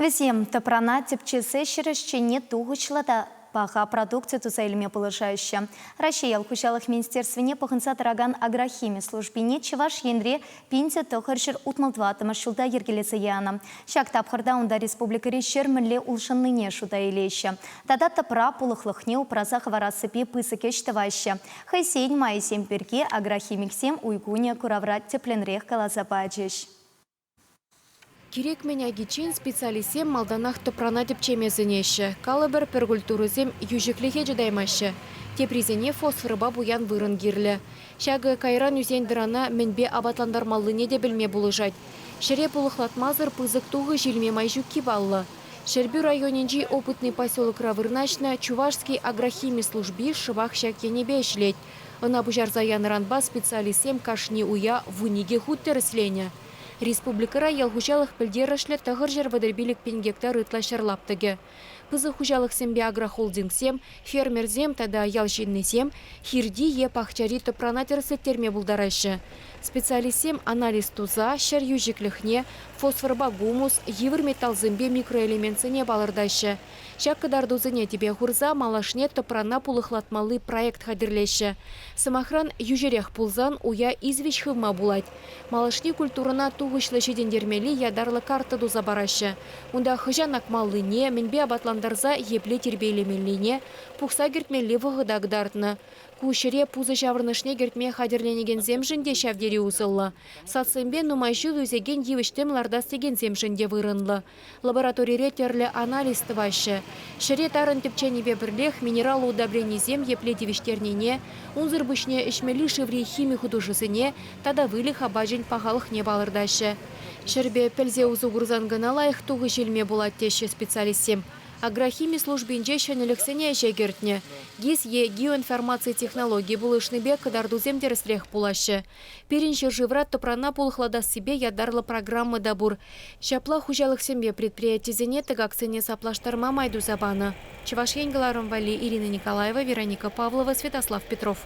Вӗсем тӑпрана тӗпчесе ҫӗр ӗҫченне тухӑҫлӑ та паха продукци туса илме пулӑшаҫҫӗ. Раҫҫей ял хуҫалӑх министерствине пӑхӑнса тӑракан агрохими службине Чӑваш Енре пинсӗ тӑхӑр ҫӗр утмӑл тӑваттӑмӗш ҫулта йӗркелесе янӑ. Ҫак тапхӑрта унта республикӑри ҫӗр мӗнле улшӑннине шута илеҫҫӗ тата тӑпра пулӑхлӑхне упраса хӑварассипе пысӑк ӗҫ тӑваҫҫӗ. Хӑйсен майӗсем пирки агрохимиксем уй кунӗ куравра тӗплӗнрех каласа пачӗҫ. Кирек-мӗн агиччен специалистсем малтанах тӑпрана тӗпчеме сӗнеҫҫӗ. Калӑпӑр, пӗр культурӑсем йӳҫӗклӗхе чӑтаймаҫҫӗ. Теприсене фосфорпа пуян вырӑн кирлӗ. Ҫакӑ кайран ӳсен-тӑрана мӗнпе апатлантармаллине те пӗлме пулӑшать. Ҫӗре пулӑхлатмасӑр пысӑк тухӑҫ илме май ҫукки паллӑ. Ҫӗрпӳ районӗнчи Опытный поселокра вырнаҫнӑ Чувашский агрохими служби шӑпах ҫак енӗпе ӗҫлет. Ӑна пуҫарса янӑранпа специалистсем кашни уя вун икӗ хут тӗрӗсленӗ. Республикӑра ял хуҫалӑх пӗлтерӗшлӗ тӑхӑрҫӗр вӑтӑр-пилӗк пин гектар ытла ҫӗр лаптӑкӗ. Пысӑк хуҫалӑхсемпе агрохолдингсем, фермерсем тата ял ҫыннисем хирти е пахчари тӑпрана тӗрӗслеттерме пултараҫҫӗ. Специалистсем анализ туса ҫӗр йӳҫӗклӗхне, фосфорпа гумус, йывӑр металлсемпе микроэлементсене палӑртаҫҫӗ, Ҫак кӑтартусене тӗпе хурса малашне тӑпрана пулӑхлатмалли проект хатӗрлеҫҫӗ. Сӑмахран, йӳҫӗрех пулсан уя извеҫ хывма пулать. Малашне культурӑна тухӑҫлӑ ҫитӗнтермелли ятарлӑ карта туса параҫҫӗ, унта хӑҫан акмаллине, мӗнпе апатлантарса епле тирпейлемеллине, пухса кӗртмелли вӑхӑта кӑтартнӑ. Ку ҫӗре пусӑ ҫаврӑнӑшне кӗртме хатӗрленекенсемшӗн те ҫав тери усӑллӑ. Садсемпе нумай ҫул ӳсекен йывӑҫ-тӗм лартас текенсемшӗн те вырӑнлӑ. Лабораторире тӗрлӗ анализ тӑваҫҫӗ. Ҫӗре тарӑн тӗпченипе пӗрлех минерал удобренисем епле тивӗҫтернине, унсӑр пуҫне ӗҫмелли шыври хими хутӑшусене тата выльӑх апачӗн пахалӑхне палӑртаҫҫӗ. Ҫӗрпе пӗлсе усӑ курсан кӑна лайӑх тухӑҫ илме пулать теҫҫӗ специалистсем. Агрохими службинче ҫӗнӗлӗхсене ӗҫе кӗртнӗ, ГИС е геоинформаци технологи пулӑшнипе кӑтартусем тӗрӗсрех пулаҫҫӗ. Пирӗн ҫӗршывра тӑпрана пулӑхлатассипе ятарлӑ программа та пур. Ҫапла хуҫалӑхсемпе предприятисене тӑкаксене саплаштарма май туса панӑ. Чӑваш Ен кӑларӑм валли Ирина Николаева, Вероника Павлова, Святослав Петров.